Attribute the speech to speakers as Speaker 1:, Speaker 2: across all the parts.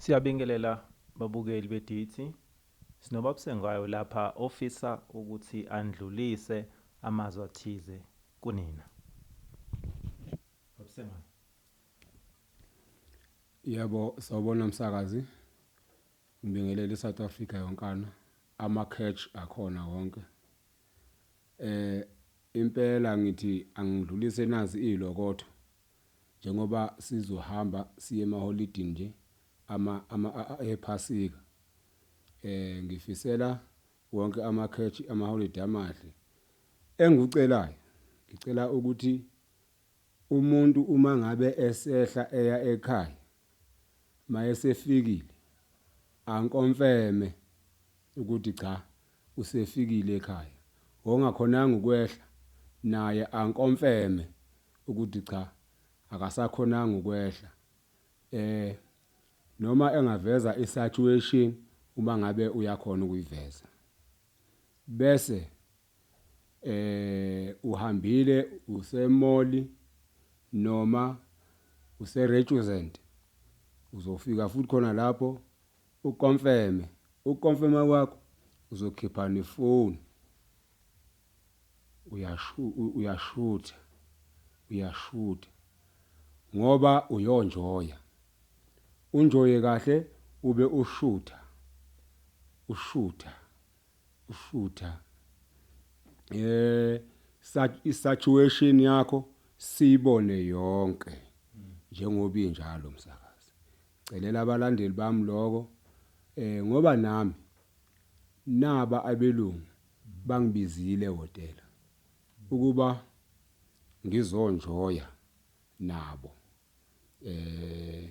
Speaker 1: Siyabingelela babukeli beDithi. Sinobabsengayo lapha ofisa ukuthi andlulise amazwi athize kunina. Babsengayo.
Speaker 2: Yebo sawubona msakazi. Ngibingelele iSouth Africa yonkana. Ama catch akhona wonke. Eh impela ngithi angidlulise nazi ilokotho. njengoba sizohamba siye emaholidini nje ama ama ephasika eh ngifisela wonke amakhethi amaholidi amahle engikucelayo ngicela ukuthi umuntu uma ngabe esehla eya ekhaya Mayesefikile ankomfeme ukuthi cha usefikile ekhaya. Ongakhonanga ukwehla naye ankomfeme ukuthi cha akasakhonanga ukwehla. Eh noma engaveza isatuation uma ngabe uyakhona ukuyiveza. Bese Eh uhambile use mall noma use returent uzofika futhi khona lapho u confirm u confirm kwakho uzokhipha ne phone uyasho uyashutha uyashutha ngoba uyonjoya unjoye kahle ube ushutha ushutha. ushutha eh situation yakho siyibone yonke njengoba injalo msakazi celela abalandeli bami lokho eh ngoba nami naba abelungu bangibizile ehotela ukuba ngizonjoya nabo eh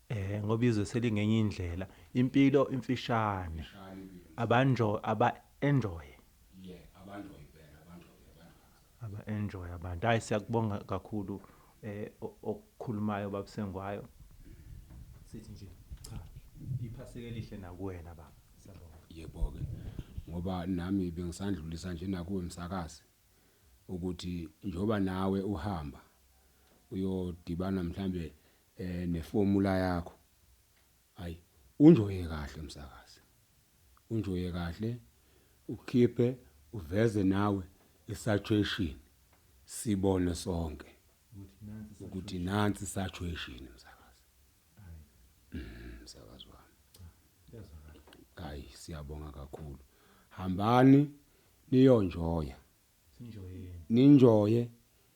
Speaker 1: Ehh ngoba izwe selingenye indlela. Impilo imfishane. Abanjo aba enjoy. Aba enjoy abantu. Hayi siyakubonga kakhulu okukhulumayo baba Sengwayo. Sithi nje cha iphaseka elihle nakuwena baba. Yebo ke.
Speaker 2: Ngoba nami bengisandlulisa nje nakuwe msakazi ukuthi njoba nawe uhamba uyodibana mhlambe Eh nefomula yakho. Hayi unjoye kahle msakazi. Unjoye kahle ukhiphe uveze nawe isaturation sibone sonke ukuthi nansi saturation msakazi. Mhm msakazi wami. Hayi siyabonga kakhulu. Hambani niyonjoya. Sinjoyeni. Ninjoye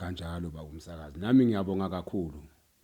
Speaker 2: kanjalo baba umsakazi nami ngiyabonga kakhulu